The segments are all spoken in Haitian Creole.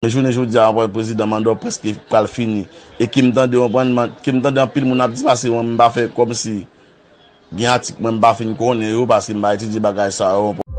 Men jounen jodi a anpwen prezidan mandò preske pral fini e kim tande anpwen kim tande anpil moun ap di pase mwen mpa fè kòmsi gen atik mwen mpa fin konnen yo paske mpa etidye bagay sa yo anpwen.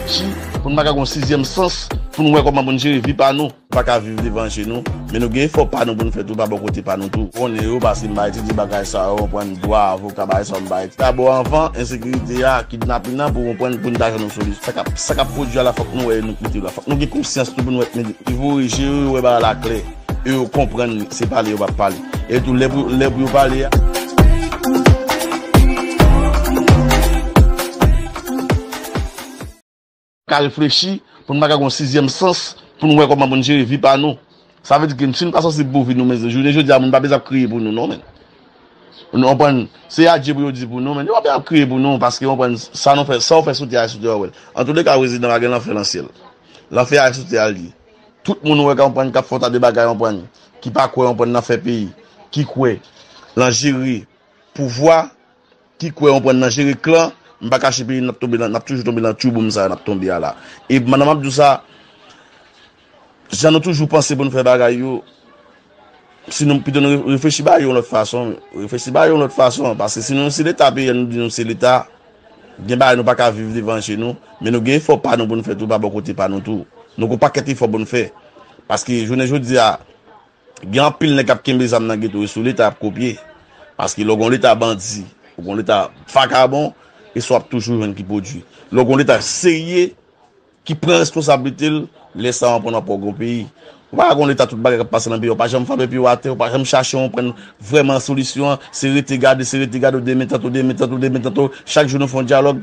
Si pou n pa ka gen yon sizyèm sans pou n wè kòman pou n jere vi pa nou. Pa ka viv devan je nou. Men nou gen efò pa nou pou n fè tou pa bò kote pa nou tou. Konnen yo pase m pa etidye bagay sa yo, konprann dwa, avoka, bagay sa yo m pa etidye. Dabò anvan ensekirite a, kidnapin nan pou konprann pou n ta jwenn yon solisyon. Sa k ap pwodui a la fòk nou wè e nou koute yo la. Fòk nou gen konsyans tou pou n wè Yo voye je yo, yo wè bagay la klè e yo konprann se pale yo pa pale. E tou lè pou yo pale a. Ka reflechi pou n pa ka gen yon sizyèm sans pou n wè kòman pou n jere vi pa nou. Sa vle di ke si nou pa sansib pou vi nou men jounen jodi a moun pa bezwen ap kriye pou nou non men. Ou konprann? Se adye pou yo di pou nou men yo pa bezwen ap kriye pou nou paske ou konprann sa nou fè, sa ou fè sou tè a se sou tè ou wè l. Antouleka rezidan pa gen lanfè lan syèl. Lan fè a soute al di. Tout moun wè kanprann kap fè yon ta de bagay anprann ki pa kwè anprann nan fè peyi ki kwè lan jere pouvwa ki kwè anprann nan jere klan m pa kache peyi nap tonbe lan nap toujou tonbe lan tyouboum sa nap tonbe a la e mandan map di w sa jan nou toujou panse pou nou fè bagay yo. Si nou pito nou reflechi bagay yo yon lòt fason, reflechi bagay yo yon lòt fason, paske si nou si leta peye nou di nou se leta, gen bagay nou pa ka viv devan je nou, men nou gen efò pa nou pou nou fè tou pa bò kote pa nou tou. Nou gen yon pakèt efò pou nou fè. Paske jounen jodi a, gen anpil nèg k ap kenbe zam nan geto e sou leta y ap kopye. Paske lè w gen yon leta bandi, ou gen yon leta vakabon, e sa w ap toujou jwenn ki pwodui. Lè w gen yon leta serye, Ki pran responsablite l lè sa w anpren w ap wè w gen yon peyi. Ou pa ka gen yon leta tout bagay k ap pase nan peyi a ou pa janm frape pye w atè ou pa janm chache yon pwenn vrèman solisyon an se rete gade se rete gade ou demen tanto demen tanto demen tanto chak jou nou fè yon dyalòg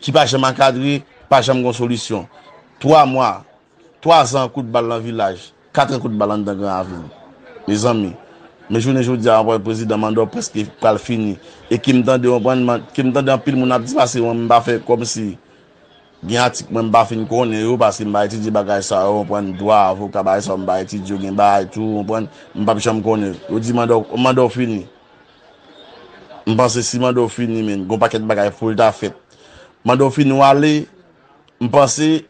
ki pa janm ankadre pa janm gen yon solisyon 3 mwa 3 zan kout bal nan vilaj 4 an kout bal anndan gran avni mezanmi men jounen jodi a anpwen prezidan manda w prèske pral fini e ke m tande anpwen ke m tande anpil moun ap di pase yon m pa fè kòmsi. Gen atik mwen m pa fin konnen yo paske m pa etidye bagay sa yo konprann dwa avoka bagay sa yo m pa etidye yo gen bagay tou konprann m pap janm konnen yo di manda w manda w fini m panse si manda w fini men gon pakèt bagay poul ta fèt manda w fini w ale m panse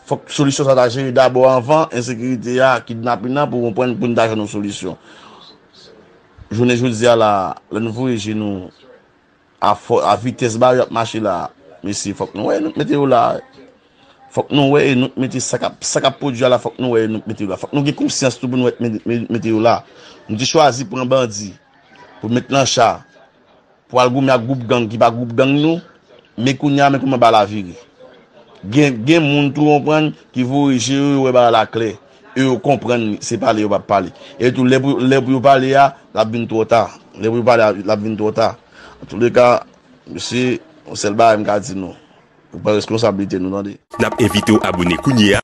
fòk solisyon sa ta jere dabò anvan ensekirite a kidnapin nan pou konprann poun ta jwenn yon solisyon jounen jodi a la lè nou voye je nou A vitès bari ap mache la a mesye fòk nou wè e nou k mete yo la a fòk nou wè e nou k mete sa kap sa kap pwodwi a la fòk nou wè e nou k mete yo la a fòk nou gen konsyans tou pou nou wè e nou k mete yo la a nou te chwazi pran bandi pou met nan cha pou al goumen ak gwoup gang ki pa gwoup gang nou men kounye a men kouman bagay la vire gen gen moun tou ou konprann ki voye je yo yo wè bagay la klè. E yo konprann li, se pale yo pa pale. E tou lè pou lè pou yo pale a, l ap vin twò ta. Lè pou yo pale a, l ap vin twò ta. Antouleka, mesye, yon sèl bagay m ka di nou, nou pran reskonsablite nou tande. N ap envite w abone kounye a.